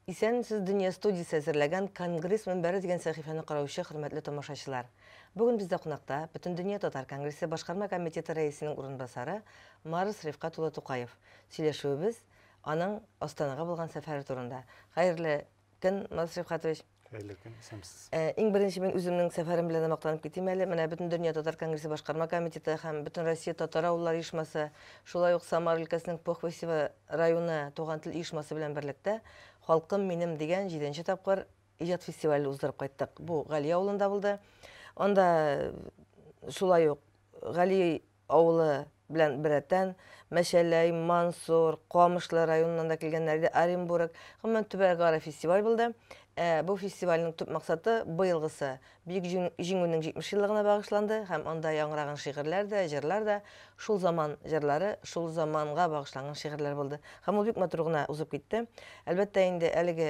Исәнмесез дөнья студиясе әзерләгән Конгресс мөнбәре дигән сәхифәне караучы хөрмәтле тамашачылар. Бүген бездә кунакта Бөтендөнья татар конгрессы башкарма комитеты рәисенең урынбасары Марс Рифкат улы Тукаев. Сөйләшүебез аның Астанага булган сәфәре турында. Хәерле көн, Марат Рифхатович. Хәерле көн, исәнмесез. Э, иң беренче мин үземнең сәфәрем белән мактанып китим әле. Менә бөтен дөнья татар конгрессы башкарма комитеты һәм бөтен Россия татар авыллар оешмасы, шулай ук Самар өлкәсенең Похвесево районы туган тел оешмасы белән берлектә Халкым минем дигән 7 тапкыр иҗат фестивале уздырып кайттык. Бу Гали авылында булды. Анда э, шулай ук Гали авылы белән беррәттән, Мәчәләй, Мансур, Камышлы районыннан да килгәннәр иде, Оренбург, гомумән, төбәгара фестиваль булды. Ә бу фестивальнең төп максаты, быелгысы, Бөек Җиңүнең 70 еллыгына багышланды һәм анда яңгыраган шигырьләр дә, җырлар да, шул заман җырлары, шул заманга багышланган шигырьләр булды. Һәм ул бик матур гына узып китте. Әлбәттә инде, әлеге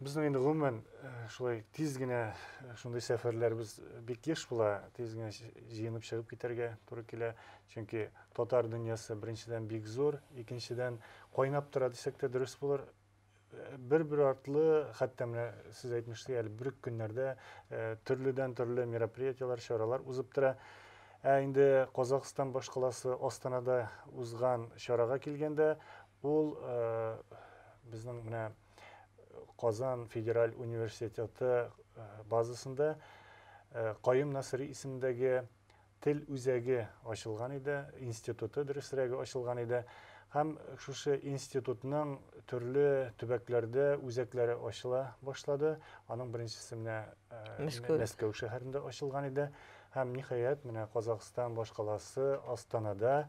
Безнең инде гомумән шулай тиз генә шундый сәфәрләребез бик еш була, тиз генә җыенып чыгып китәргә туры килә. Чөнки татар дөньясы беренчедән бик зур, икенчедән кайнап тора дисәк тә дөрес булыр. Бер-бер артлы, хәтта менә сез әйтмешли, әле бер үк көннәрдә төрледән төрле мероприятиеләр, чаралар узып тора. Ә инде Казахстан башкаласы Астанада узган чарага килгәндә, ул безнең менә Казан федераль университеты базасында Каюм Насыйри исемендәге тел үзәге ачылган иде, институты дөресрәге ачылган иде һәм шушы институтның төрле төбәкләрдә үзәкләре ачыла башлады. Аның беренчесе менә Мәскәү шәһәрендә ачылган иде һәм ниһаять менә Казахстан башкаласы Астанада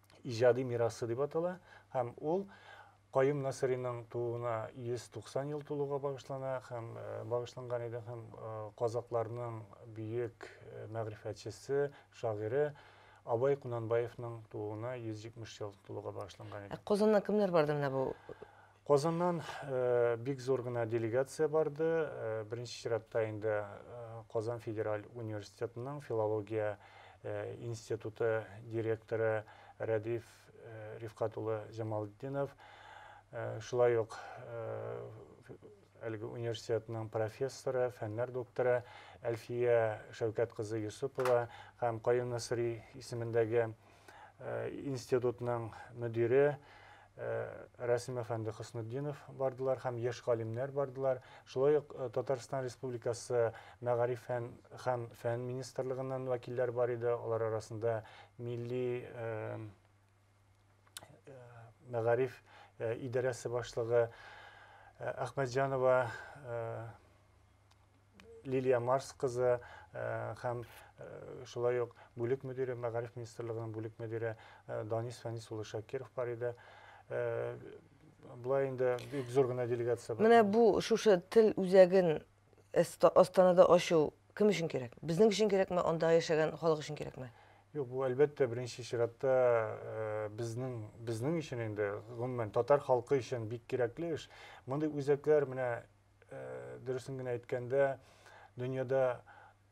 иҗади мирасы дип атала һәм ул Каюм Насыйриның тууына 190 ел тулуга багышлана һәм багышланган иде һәм казакларның бөек мәгърифәтчесе, шагыйре Абай Кунанбаевның тууына 170 ел тулуга багышланган иде. Ә Казаннан кемнәр барды менә бу Казаннан бик зур гына делегация барды. Беренче чиратта инде Казан федераль университетының филология институты директоры Рәдиф Рифкать улы Җамалтдинов, шулай ук әлеге университетның профессоры, фәннәр докторы Әлфия Шәүкәт кызы Йосыпова һәм Каюм Насыйри исемендәге институтның мөдире Рәсим әфәнде Хөснетдинов бардылар һәм яшь галимнәр бардылар. Шулай ук Татарстан Республикасы мәгариф һәм, һәм фән министрлыгыннан вәкилләр бар иде. Алар арасында милли мәгариф идарәсе башлыгы Әхмәтҗанова Лилия Марс кызы һәм шулай ук бүлек мөдире, мәгариф министрлыгының бүлек мөдире Данис Фәнис улы Шакиров бар иде. Болай инде бик зур гына делегация бар. Менә бу шушы тел үзәген Астанада ачу кем өчен кирәк? Безнең өчен кирәкме, анда яшәгән халык өчен кирәкме? Юк, бу әлбәттә беренче чиратта э, безнең безнең өчен инде гомумән татар халкы өчен бик кирәкле эш. Мондый үзәкләр менә дөресен генә әйткәндә, дөньяда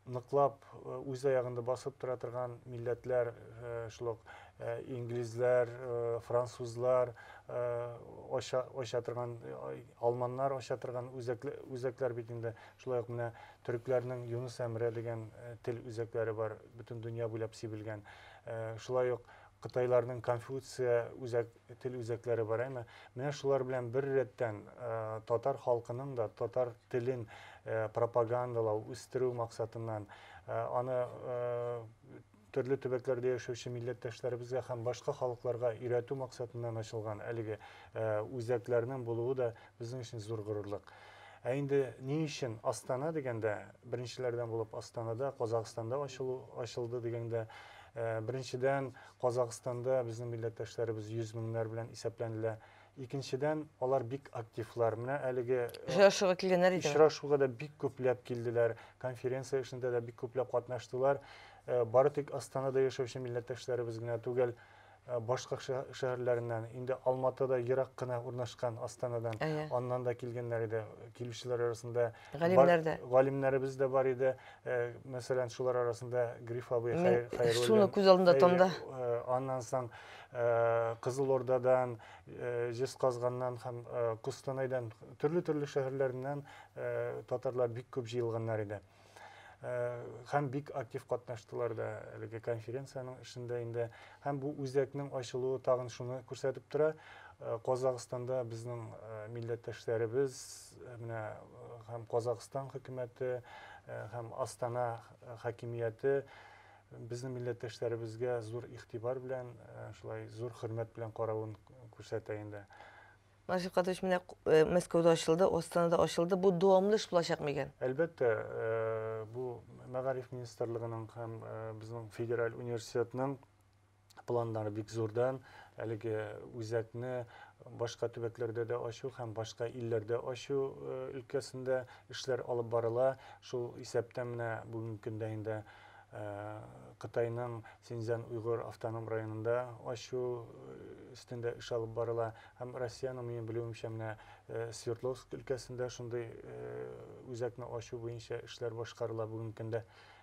ныклап э, үз аягында басып тора торган милләтләр э, шул ук э, инглизләр французлар оча торган алманнар оча торган үзәкләр бит инде шулай ук менә төрекләрнең юнус әмре дигән тел үзәкләре бар бөтен дөнья буйлап сибелгән шулай ук кытайларның конфуция үзәк тел үзәкләре бар әмма менә шулар белән бер рәттән татар халкының да татар телен пропагандалау үстерү максатыннан аны төрле төбәкләрдә яшәүче милләттәшләребезгә һәм башка халыкларга өйрәтү максатыннан ачылган әлеге үзәкләрнең булуы да безнең өчен зур горурлык ә инде ни өчен астана дигәндә беренчеләрдән булып астанада казахстанда ачылу ачылды дигәндә Э, беренчедән Казакъстанда безнең милләттәшләребез йөз меңнәр белән исәпләнелә. Икенчедән, алар бик активлар. Менә әлеге Очрашуга килгәннәр идеме? очрашуга да бик күпләп килделәр, конференция эшендә дә бик күпләп катнаштылар. Э, Бары тик Астанада яшәүче милләттәшләребез генә түгел, э, башка шә- шәһәрләреннән, инде Алматыда ерак кына урнашкан Астанадан, Әйе. аннан да килгәннәр иде. Килүчеләр арасында Галимнәр дә. Галимнәребез дә бар иде. Мәсәлән, шулар арасында Гриф абый Хәйруллин. Шуны күз алдында томда. Аннан соң Кызыл Ордадан, Җезказганнан һәм Кустанайдан, төрле-төрле шәһәрләреннән татарлар бик күп җыелганнар иде. Һәм бик актив катнаштылар да әлеге конференциянең эшендә инде. Һәм бу үзәкнең ачылуы тагын шуны күрсәтеп тора. Казахстанда безнең милләттәшләребез менә һәм Казахстан хөкүмәте һәм Астана хакимияте безнең милләттәшләребезгә зур игътибар белән, шулай зур хөрмәт белән каравын күрсәтә инде. Наҗиф Кадыйрович, менә Мәскәүдә ачылды, Астанада ачылды. Бу дәвамлы эш булачакмы икән? Әлбәттә, бу Мәгариф министрлыгының һәм безнең федераль университетның планнары бик зурдан әлеге үзәкне башка төбәкләрдә дә ачу һәм башка илләрдә ачу э, өлкәсендә эшләр алып барыла. Шул исәптән менә бүгенге көндә инде э, Кытайның Синьцзян Уйгур автоном районында ачу э, өстендә эш алып барыла һәм Россиянең минем белүемчә менә Свердловск өлкәсендә шундый үзәкне ачу буенча эшләр башкарыла бүгенге көндә.